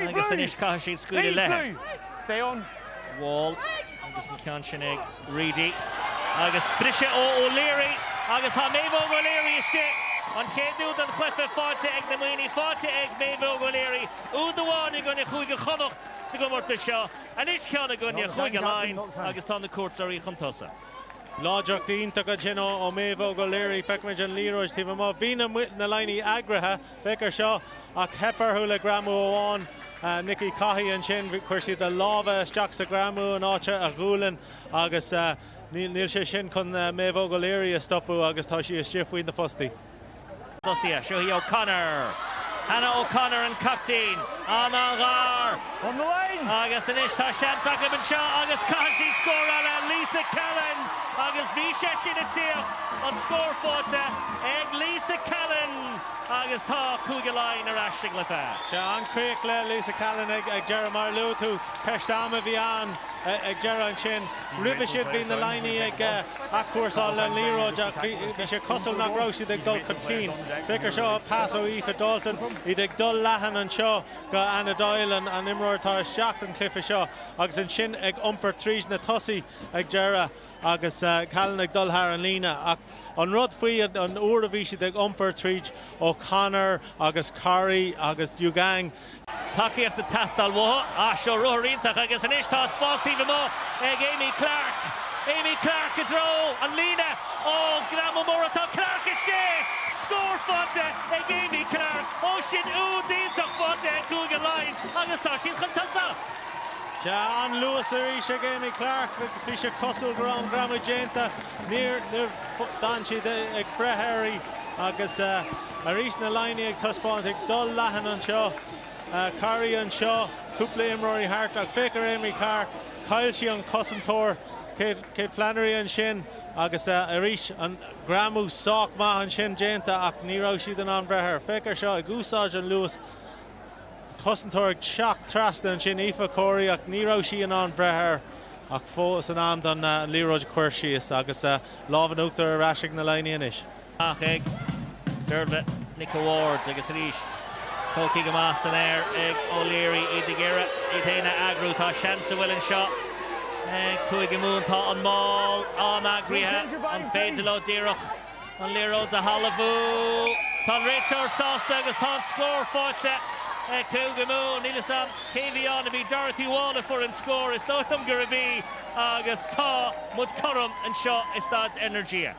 Agus anois caithfidh siad scaoileadh léithi. Wall agus an ceann sin ag Reidy agus briseadh ó O'Leary agus tá Méabh Óg O'Leary istigh. An chéad úd den chluiche faighte ag na Muimhnigh, faighte ag Méabh Óg O'Leary, úd amháin i gcoinne Chúige Chonnacht sa gcomórtas seo. Anois ceann i gcoinne Chúige Laighean agus tá na cuairteoirí chun tosaigh. Láidreacht iontach ansin ó Méabh Óg O'Leary. Feicimid an liathróid taobh amuigh. Bhí na na Laighnigh eagraithe, féach ar seo, ach theip orthu le greamú amháin. Nikki Caughey ansin, chuir siad a lámha isteach sa ghreamú in áit a ghualainn agus níl sé sin chun Méabh Óg O'Leary a stopadh agus tá sí istigh faoi na postaí. Tosaithe, seo í O'Connor. Hannah O'Connor an caiptín. An-ghar! On the line! Agus anois tá seans acu anseo agus caithfidh siad scóráil. Lisa Callan agus bhí sé sin ag tíocht. An scór faighte ag Lisa Callan agus tá Cúige Laighean ar ais sa gcluiche. Sea, an-chríoch le Lisa Callan ag deireadh. Mar a luaigh tú, ceist ama a bhí ann ag deireadh ansin. Roimhe sin bhí na Laighnigh ag. athchúrsáil le liathróid ach bhí sé cosúil nach raibh siad ag dul chun cinn. Féach ar seo, pas ó Aoife Dalton, iad ag dul leathan anseo go Anna Doyle, an an imreoir atá isteach an cluiche seo agus ansin ag iompar tríd na tosaithe ag deireadh agus Callan ag dul thar an líne ach an rud faoi an uair a bhí siad ag iompar tríd O'Connor agus Corri agus Djougang Tacaíocht ag teastáil uathu. Ah, seo ruathar iontach agus anois tá spás taobh amuigh ag Aimee Clarke. Aimee Clarke i dtreo an líne. Oh, greamú mór ach tá Clarke istigh! Scór faighte ag Aimee Clarke. Oh, sin úd iontach faighte ag Cúige Laighean agus tá siad chun tosaigh. Sea, an-luas arís ag Aimee Clarke agus bhí sé cosúil go raibh an greamú déanta ach níor, d'fhan siad ag breith uirthi agus. Arís na Laighnigh ag taispeáint ag dul leathan anseo. Corri anseo, cúpla imreoirí thart ach féach ar Aimee Clarke, chaill sí an cosantóir, Kate Flannery ansin agus arís an greamú sách maith ansin déanta ach ní raibh siad in ann breith air. Féach ar seo, ag úsáid an luas, cosantóir ag teacht trasna ansin, Aoife Corey ach ní raibh sí in ann breith air ach fós in am don liathróid a chur síos agus lámh in uachtar ar ais ag na Laighnigh anois. Amach ag Deirbhile Nic a' Bháird agus arís tógtha go maith san aer ag O'Leary. Iad ag iarraidh iad féin a eagrú. Tá seans a bhfuil anseo ag Cúige Mumhan. Tá an mál an-eagraithe. An féidir leo díreach an liathróid a thalmhú? Tá an réiteoir sásta agus tá an scór faighte ag Cúige Mumhan. Níl 'fhios a'm cé a bhí ann, ab í Dorothy Wall a fuair an scór? Is dóigh liom gurb í agus tá muid cothrom anseo i Staid Energia.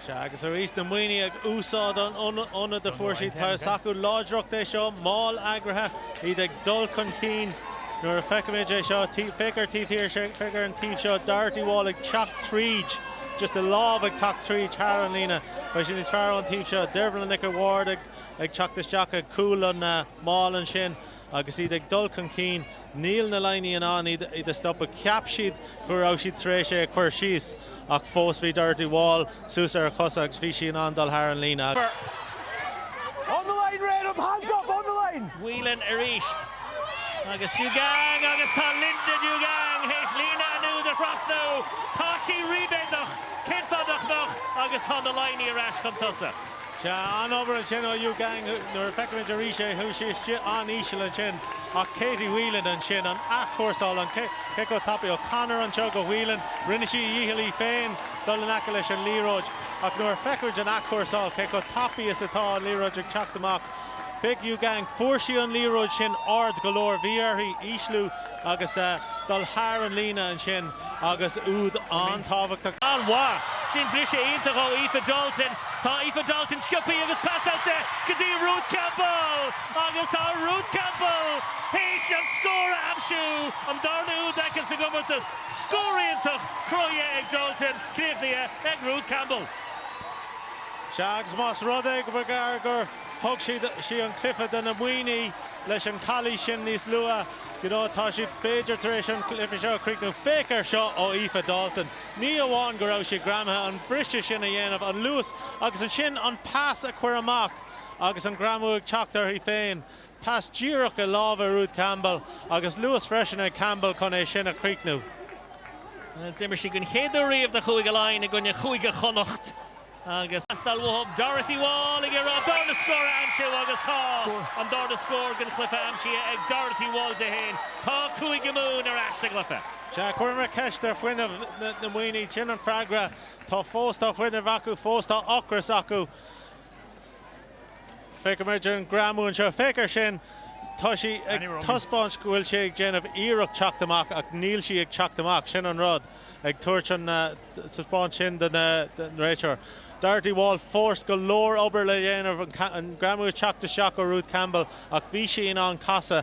Sea, agus arís, na Muimhnigh ag úsáid an ionaid a fuair siad, tá a fhios acu láidreacht é seo, máll eagraithe, iad ag dul chun cinn. Nuair a feicimid é seo, féach ar taobh thiar, féach ar an taobh seo, Dorothy Wall ag teacht tríd, just a lámh ag teacht tríd, thar an líne, beidh sé níos fearr ón taobh seo, Deirbhile Nic a' Bháird ag teacht isteach ag cúl an mháil ansin. Agus iad ag dul chun cinn, níl na Laighnigh in ann iad a stopadh. Cheap siad go raibh siad tar éis é a chur síos, ach fós bhí Dorothy Wall suas ar a cosa agus bhí sí in ann dul thar an líne agus. On the line, Red! Hands up, on the line! Whelan arís. Agus Djougang agus tá Linda Djougang théis líne an úid a thrasnú. Tá sí ríméadach, cén fáth nach mbeadh, agus tá na Laighnigh ar ais chun tosaigh. Sea, an-obair ansin ó Djougang. Nuair a feicimid arís é, chuaigh sí istigh an-íseal ansin. Ach Katie Whelan ansin, an athchúrsáil, an cé chomh tapaidh. O'Connor anseo go Whelan. Rinne sí a dícheall í féin dul in aice leis an liathróid. Ach nuair a feicimid an athchúrsáil, cé chomh tapaidh is atá an liathróid ag teacht amach. Chuig Djougang. Fuair sí an liathróid sin ard go leor. Bhí uirthi ísliú agus dul thar an líne ansin agus úd an-tábhachtach. An-mhaith. Sin briseadh iontach ó Aoife Dalton. Tá Aoife Dalton sciopthaí agus pasáilte go dtí Ruth Campbell agus tá Ruth Campbell théis an scór a aimsiú, an darna úd aici sa gcomórtas. Scór iontach cruthaithe ag Dalton, críochnaithe ag Ruth Campbell. Sea, agus más rud é go mb'fhéidir gur thug siad, sí, an cluiche do na Muimhnigh leis an Callie sin níos luath, you know, tá siad b'fhéidir tar éis an cluiche seo a chríochnú, féach ar seo ó Aoife Dalton. Ní amháin go raibh sí greamaithe, an briseadh sin a dhéanamh, an luas agus ansin an pas a chur amach agus an greamú ag teacht uirthi féin. Pas díreach i lámha Ruth Campbell agus luas freisin ag Campbell chun é sin a chríochnú. D'imir sí den chéad uair riamh do Chúige Laighean i gcoinne Chúige Chonnacht agus Faisal Wahab Dorothy Wall ag iarraidh an darna scór a aimsiú agus tá an darna scór den chluiche aimsithe ag Dorothy Wall di féin. Tá Cúige Mumhan ar ais sa gcluiche. Sea, chuireamar ceist ar fuinneamh na Muimhneach. Sin an freagra. Tá fós, tá fuinneamh acu fós, tá ocras acu. Feicimid an greamú anseo. Féach air sin. Tá sí ag taispeáint go bhfuil sí ag déanamh iarracht teacht amach ach níl sí ag teacht amach. Sin an rud, ag tabhairt an taispeáint sin don réiteoir. Dorothy Wall, fós, go leor obair le dhéanamh an greamú ag teacht isteach ó Ruth Campbell ach bhí sí in ann casadh.